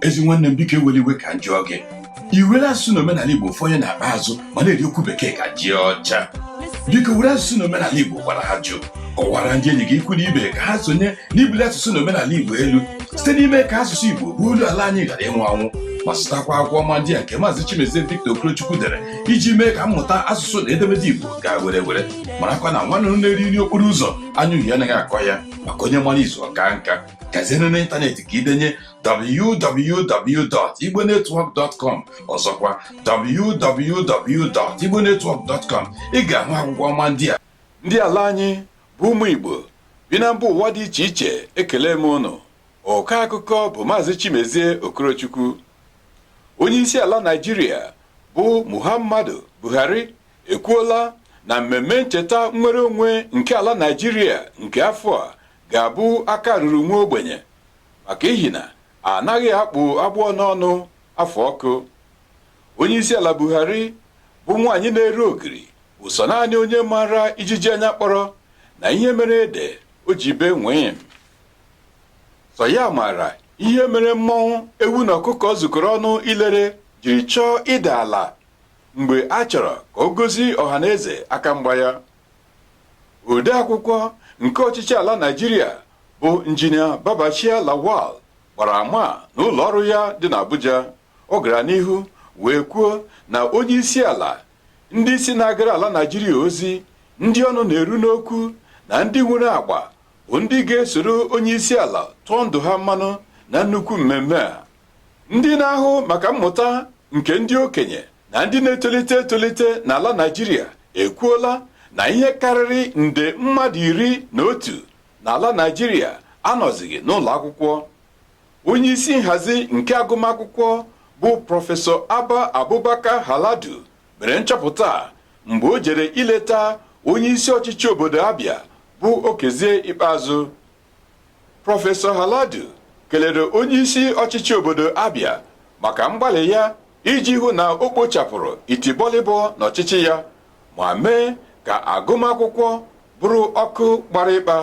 ezi nwanne m biko ewela iwe ka m jụọ gị iwere asụsụ na omenala igbo ofu onye na-akpa azụ ma na-eri okwu bekee ka ji ọcha biko were asụsụ na omenala igbo gwara ha jụụ kọwara ndị enyi gị ikwu na ibe ka ha sonye n'ibuli asụsụ na omenala igbo elu site n'ime ka asụsụ igbo bụ olu ala anyị ghara ịnwụ anwụ ma zụtakwa akwụkwọ ọma ndị a nke maazị chimezie victor okorochukwu dere iji mee ka mmụta asụsụ na edemede igbo gaa were were marakwa na nwa nduru na-eri nri okporo ụzọ anya uhie anaghị akọ ya maka onye mara izu ọ kaa nka gazie n'ime ịntanetị ka i denye www.igbonetwork.com ọzọkwa www.igbonetwork.com ị ga-ahụ akwụkwọ ọma ndị a ndị ala anyị bụ ụmụ Igbo bi na mba ụwa dị iche iche ekele m unu ọkọ akụkọ bụ Maazị Chimezie Okorochukwu onye isi ala Naịjirịa bụ Muhammadu Buhari ekwuola na mmemme ncheta nnwere onwe nke ala Naịjirịa nke afọ a ga-abụ aka ruru nwa ogbenye maka ihi na a naghị akpụ agbọ n'ọnụ afụ ọkụ. Onyeisiala Buhari bụ nwaanyị na-ere ogiri bụ sọ naanị onye maara ijiji anya kpọrọ na ihe mere ede o ji bee nwịm. Sọ ya maara ihe mere mmọnwụ ewu na ọkụkọ zukọrọ ọnụ ilere jiri chọọ ịda ala mgbe a chọrọ ka o gosi ọhaneze aka mgba ya. odeakwụkwọ nke ọchịchị ala Naịjirịa bụ injinia Babachir Lawal gbara ama a na ụlọ ọrụ ya dị n'Abuja ọ gara n'ihu wee kwuo na onye isi ala ndị isi na-agara ala Naịjirịa ozi ndị ọnụ na-eru n'okwu na ndị nwere agba bụ ndị ga-esoro onye isi ala tụọ ndụ ha mmanụ na nnukwu mmemme a ndị na-ahụ maka mmụta nke ndị okenye na ndị na-etolite etolite n'ala Naịjirịa ekwuola na ihe karịrị nde mmadụ iri na otu n'ala Naịjirịa anọzighị n'ụlọ akwụkwọ onye isi nhazi nke agụmakwụkwọ bụ prọfesọ Abba Abubakar Haladu mere nchọpụta a mgbe o jere ileta onye isi ọchịchị obodo Abia bụ Okezie Ikpeazụ Prọfesọ Haladu kelere onyeisi ọchịchị obodo Abia maka mgbalị ya iji hụ na o kpochapụrụ itibọlịbọ n'ọchịchị ya ma mee ka agụmakwụkwọ bụrụ ọkụ gbara ịkpa.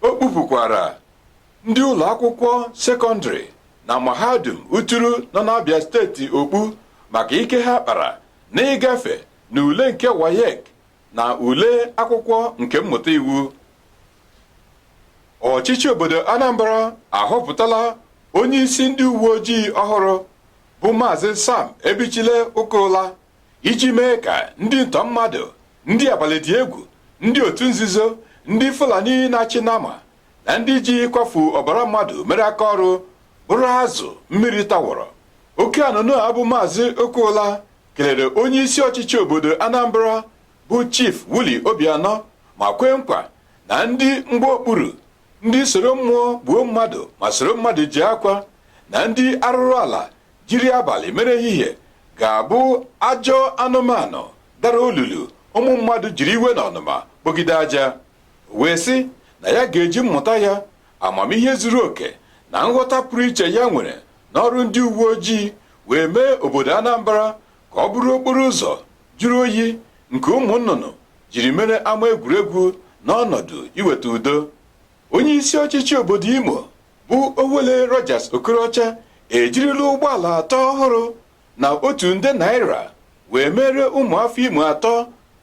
O kpupukwara ndị ụlọ akwụkwọ sekọndịrị na mahadum Uturu nọ n'Abia steeti okpu maka ike ha kpara n'ịgafe n'ule nke WAEC na ule akwụkwọ nke mmụta iwu ọchịchị obodo Anambra ahọpụtala onye isi ndị uwe ojii ọhụrụ bụ maazị Sam Ebichile Okaula iji mee ka ndị ntọ mmadụ ndị abalị dị egwu ndị otu nzuzo ndị Fulani na-achị nama na ndị ji ịkwafu ọbara mmadụ mere aka ọrụ bụrụ azụ mmiri tawọrọ oke anụnụ a bụ maazị Okaula kelere onye isi ọchịchị obodo Anambra bụ Chief Willie Obiano ma kwee nkwa na ndị mgba okpuru ndị soro mmụọ gbuo mmadụ ma soro mmadụ jee akwa na ndị arụrụ ala jiri abalị mere ehihie ga-abụ ajọ anụmanụ dara olulu ụmụ mmadụ jiri iwe na ọnụma kpogide aja wee sị na ya ga-eji mmụta ya amamihe zuru oke na nghọta pụrụ iche ya nwere n'ọrụ ndị uwe ojii wee mee obodo Anambra ka ọ bụrụ okporo ụzọ jụrụ oyi nke ụmụ nnụnụ jiri mere ama egwuregwu n'ọnọdụ iweta udo onye isi ọchịchị obodo Imo bụ Owelle Rochas Okorocha ejirila ụgbọala atọ ọhụrụ na otu nde naira wee meere ụmụafọ Imo atọ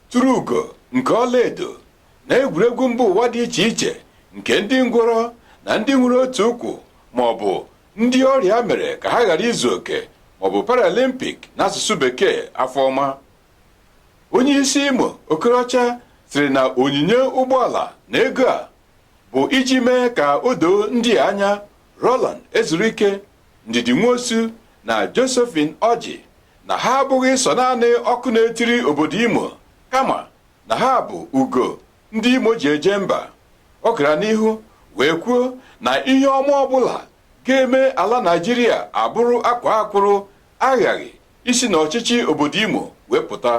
turu ugo nke ọlaedo na egwuregwu mba ụwa dị iche iche nke ndị ngwọrọ na ndị nwere otu ụkwụ ma ọ bụ ndị ọrịa mere ka ha ghara izu oke ma ọ bụ paralympic n'asụsụ bekee afọ ọma onye isi imo okorocha sịrị na onyinye ụgbọala na ego a bụ iji mee ka o doo ndị a anya roland ezuruike ndidi nwosu na josephine orji na ha abụghị sọ naanị ọkụ na-etiri obodo imo kama na ha bụ ugo ndị Imo ji eje mba ọ gara n'ihu wee kwuo na ihe ọma ọbụla ga-eme ala Naijiria abụrụ akwaa akwụrụ aghaghị isi n'ọchịchị obodo Imo wee pụta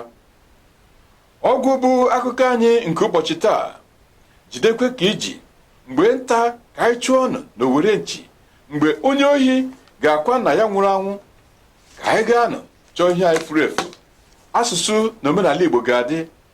ọgwụ bụ akụkọ anyị nke ụbọchị taa jidekwa ka i ji mgbe nta ka anyị chụọ nụ na owere nchi mgbe onye ohi ga-akwa nna ya nwụrụ anwụ ka anyị gaa nụ chọọ ihe anyị furu efu asụsụ na omenala Igbo ga-adị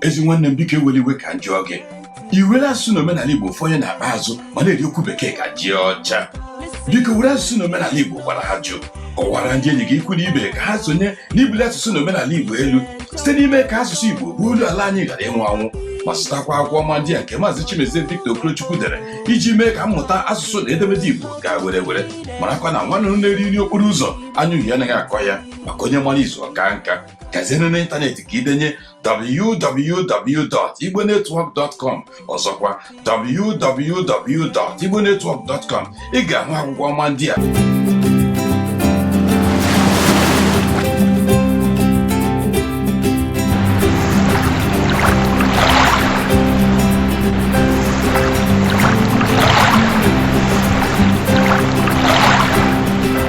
ezi nwanne m biko ewela iwe ka m jụọ gị i were asụsụ na omenala igbo fanye n'akpa azụ ma na-eri okwu bekee ka ji ọcha biko were asụsụ na omenala igbo gwara ajụ kọwara ndị enyi gị ikwu na ibe ka ha sonye n'ibuli asụsụ na omenala igbo elu site n'ime ka asụsụ igbo bụ olu ala anyị ghara ịnwụ anwụ ma zụtakwa akwụkwọ ọma ndị a nke maazị chimezie victor okorochukwu dere iji mee ka mmụta asụsụ na edemede igbo gaa were were marakwa na nwa nduru na-eri nri okporo ụzọ anya uhie anaghị akọ ya maka onye mara izu ọ kaa nka gaziere n'ịntanetị ka i denye www.igbonetwork.com ọzọkwa www.igbonetwork.com ị ga-ahụ akwụkwọ ọma ndị a